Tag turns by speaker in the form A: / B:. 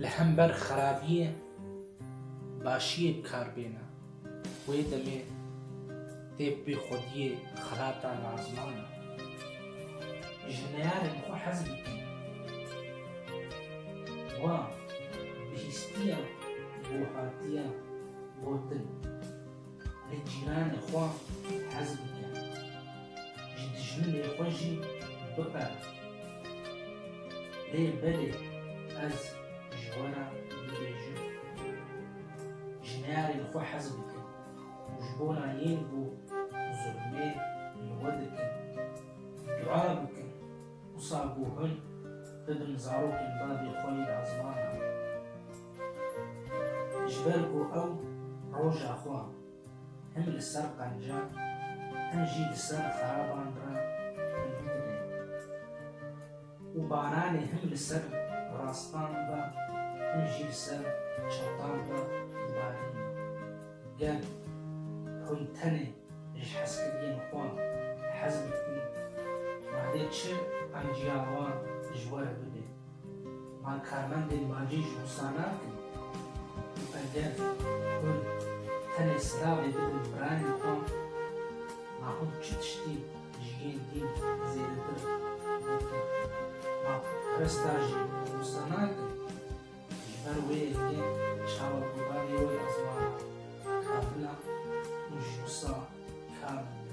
A: Li hember xerabiyê başiyê bi kar bêne. Wê demê tê bi xwediyê xelata razman e. Ji neyarên xwe hez bikin. Wa bihîstiya bo hatiya gotin. Lê cîranê xwe hez bike. Ji dijminê xwe jî biqerib. Lê belê ez ji we re dibêjim. Ji neyarên xwe hez bike û ji bona yên ku zulmê li we dikin, dua bikin. Wisa ku hûn bibin zarokên dadê xwe yê di ezmana. Ji ber ku ew roja xwe him li ser qenca him jî li ser xeraban re hingdibê û baranê him li ser rastan re him jî li ser çewtan re dibarînî. Gel hûn tenê ji hezkiriyên xwe hez bikîn, madê çi qenciya wan ji we re bibê. Van karmendên bajî ji Rûsan nakin û eger hûn tenê silavê bidin birayên xwe, ma hûn çi tiştî ji yên dîn zêdetir dikin? Ma putperesta jî Rûsa nakin, ji ber wê yekê çawa ku bavê wê ya ziwana Kabila û ji Rûsa Karmen be.